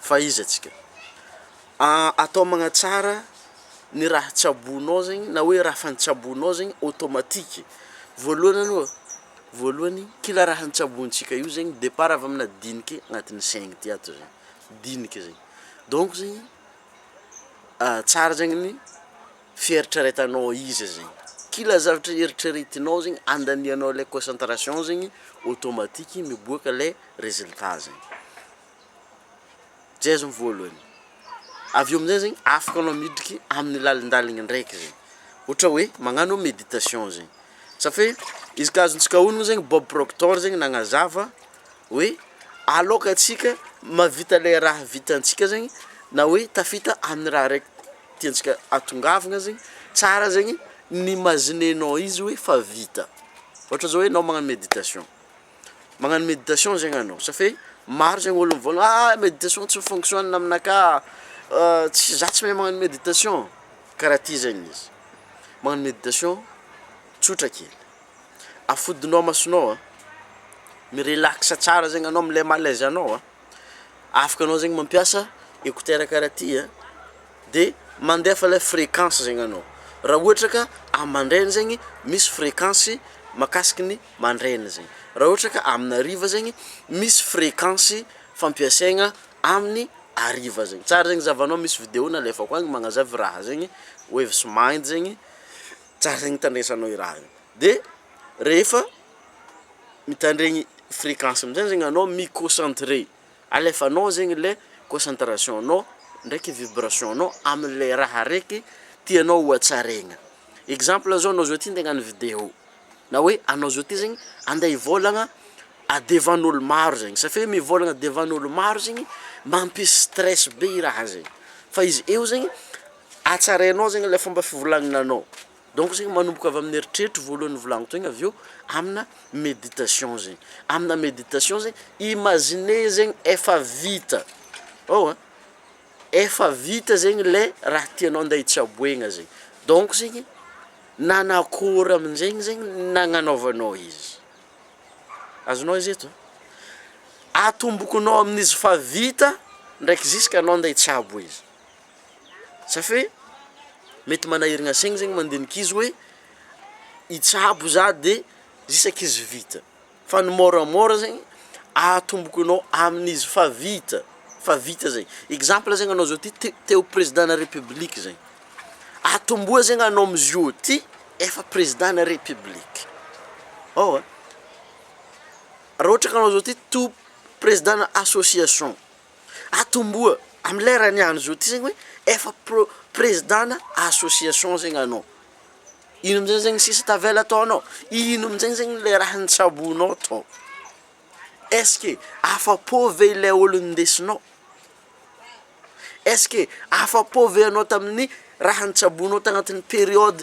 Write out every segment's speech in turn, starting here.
fa iza atsika atao magnatsara ny raha tsaboinao zegny na hoe raha efa notsaboinao zegny automatique, voalohany aloha voalohany kila raha notsabointsika io zegny depart avy amina diniky agnatin'ny saigny ty ato zegny diniky zegny donc zegny tsara zegny ny. fieritreretanao izy zegny, kila zavatra eritreretinao zegny andanianao le concentration zegny automatique miboaka le résultat zegny, zay zao ny voalohany, avy eo amizay zegny afaka anao midriky amin'ny lalindaliny ndraiky zegny, ohatra hoe magnano meditation zegny, satria izy ka azontsika onony zegny Bob Proctor zegny nagnazava. hoe aloka antsika mahavita ilay raha vitantsika zegny na hoe tafita amin'ny raha raiky tiantsika atongavana zegny, tsara zegny ny imaginenao izy hoe fa vita, ohatra zao hoe anao magnano meditation, magnano meditation zegny anao sa fe maro zegny olo mivôlagna ah meditation tsy mi-fonctionne aminakà, tsy za tsy mahay magnano meditation, karaha ty zegny izy, magnano meditation tsotra kely. afodinao masonao a, mi-relax tsara zegny anao amle malaise anao a, afaka anao zegny mampiasa écouteur karaha ty a, de mandefa le frequence zegny anao, ra ohatra ka amy mandraigny zegny misy frequence makasiky ny mandraigny zegny, ra ohatra ka amina hariva zegny misy frequence fampiasaigna aminy hariva zegny, tsara zegny zahavanao misy video nalefako agny magnazava raha zegny, waves mind zegny. Zay nitandresanao i raha io de rehefa mitandregny fréquence amizay zegny anao mi concentrer alefanao zegny le concentration nao ndraiky vibration nao amle raha raiky tianao ho hatsaregna exemple zao anao zao ty nde agnano video na hoe anao zao ty zegny ande hivolagna a devant olo maro zegny sa fe mivolagna devant olo maro zegny mampisy stress be i raha zay fa izy eo zegny Hatsarainao zegny le fomba fivolagnanao, donc zegny manomboka avy amin'ny eritreritro voalohany nivolagniko tegna avy eo amina méditation zegny, amina méditation zegny imaginer zegny efa vita ao a, efa vita zegny le raha tianao ande hitsaboegna zegny, donc zegny nanakôry aminjegny zegny nagnanaovanao izy, azonao izy eto? atombokonao amin'izy efa vita ndraiky ziska anao ande hitsabo izy. Safe mety manahiragna saigny zegny mandeha ankizy hoe hitsabo za de isaky izy vita, fa ny môramôra zegny ahatomboko anao amin'izy fa vita, fa vita zay, exemple zegny anao zao ty te- te ho président na république zay, atomboa zegny anao amizio ty efa président na république, ôhatra, raha ôhatra ka anao zao ty to président na association. atomboha am lera niany zao ty zegny hoe efa pro- prezidana association zegny anao, ino amizay zegny sisa tavela atao anao, ino amizay zegny le raha nitsabonao tao, est-ce que afa-po ve ilay olo nindesinao, est-ce que afa-po ve anao tamin'ny raha nitsabonao tagnatin'ny periode.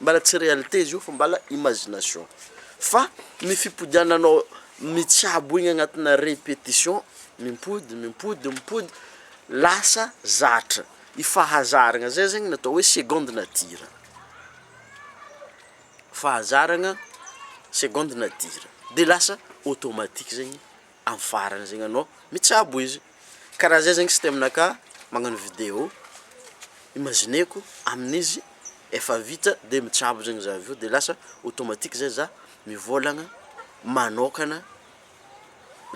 Mbala tsy réalité izy io fa mbala imagination fa ny fipodiananao mitsabo egny agnatina répétition mimpody mimpody mimpody lasa zatra i fahazaragna zay zegny natao hoe seconde nature fahazaragna seconde nature de lasa automatique zegny. am farany zegny anao mitsabo izy, karaha zay zegny système naka magnano vidéo imagineko amin'izy efa vita de mitsabo zegny za avy eo de lasa automatique zay za mivôlagna manôkagna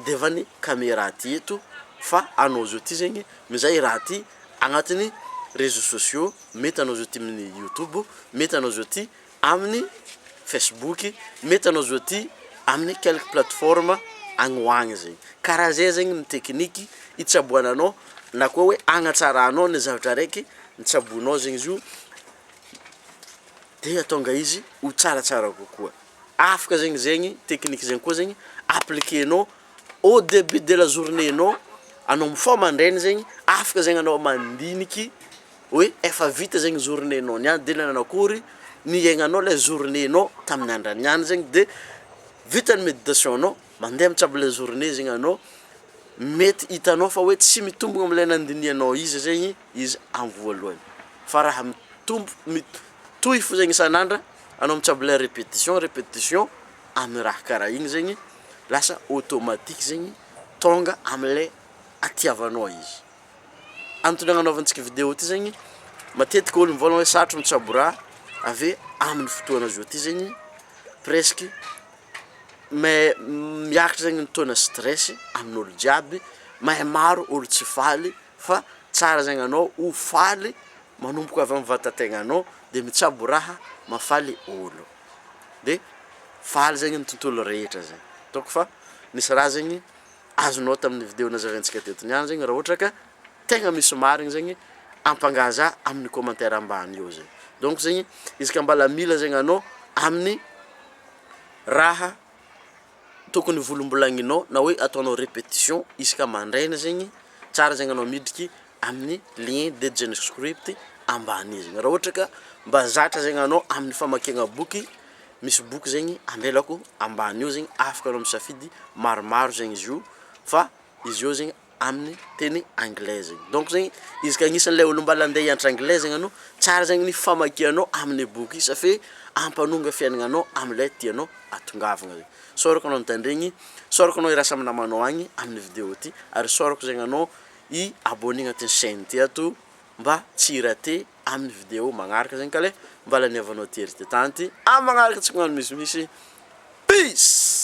de efa ny camera aty eto fa anao zao ty zegny mizay i raha ty agnatin'ny réseaux sociaux mety anao zao ty amin'ny youtube mety anao zao ty Aminy Facebook, mety anao zo ty aminy quelque plateforme agny ho agny zegny. Karaha zay zegny ny tekiniky itsaboananao na koa hoe agnatsaranao ny zavatra araiky nitsaboinao zegny izy io de ahatonga izy ho tsaratsara kokoa. Afaka zegny zegny tekiniky zegny koa zegny appliquer-nao au debut de la journée-nao, anao mifoha mandraigny zegny afaka zegny anao mandiniky hoe efa vita zegny journée nao niany de nanao akory ny hiaignanao le journée nao tamin'ny andra niany zegny de vita ny méditation nao mandeha mitsabo le journée zegny anao mety hitanao fa hoe tsy mitombogna amle nandinihanao izy zegny izy am voalohany fa raha mitombo mit- mitohy fo zegny isan'andra anao mitsabo le répétition répétition amy raha karaha igny zegny lasa automatique zegny tonga amle hatiavanao izy. Antony agnanaovantsika video ty zegny, matetika olo mivôlagna hoe sarotro mitsabo raha, ave aminy fotoagna zao ty zegny presque mais miakatra zegny ny taux-na stress amin'olo jiaby, mais maro olo tsy faly fa tsara zegny anao ho faly manomboka avy amy vatategnanao de mitsabo raha mahafaly olo, de faly zegny ny tontolo rehetra zegny, ataoko fa misy raha zegny. azonao tamin'ny video nazavaintsika teto niany zegny raha ohatra ka tegna misy marigny zegny ampangaza amin'ny commentaire ambany eo zegny donc zegny izy ka mbala mila zegny anao amin'ny raha tokony ho volombolagninao na hoe ataonao repetition isaka mandraigna zegny tsara zegny anao midriky amin'ny lien de JnScript ambany io zegny, raha ohatra ka mba zatra zegny anao amin'ny famakiagna boky, misy boky zegny amelako ambany eo zegny afaka anao misafidy maromaro zegny izy io fa izy eo zegny amin'ny teny anglais zegny, donc zegny izy ka agnisan'ny le ôlo mbala andeha hianatra anglais zegny anao tsara zegny ny famakianao amin'ny boky isa fe ampanonga fiainagnanao am'le tianao atongavagna regny, sao araka anao mitandregny, sao araka anao hiarahasa amy namanao agny amin'ny vidéo ty ary sao araka zegny anao i abonné agnatin'ny chaîne ty ato mba tsy hi-rater amin'ny vidéo magnaraka zegny ka le mba laniavanao tery ty tany ty amin'ny magnaraka tsy koa agnano misimisy peace.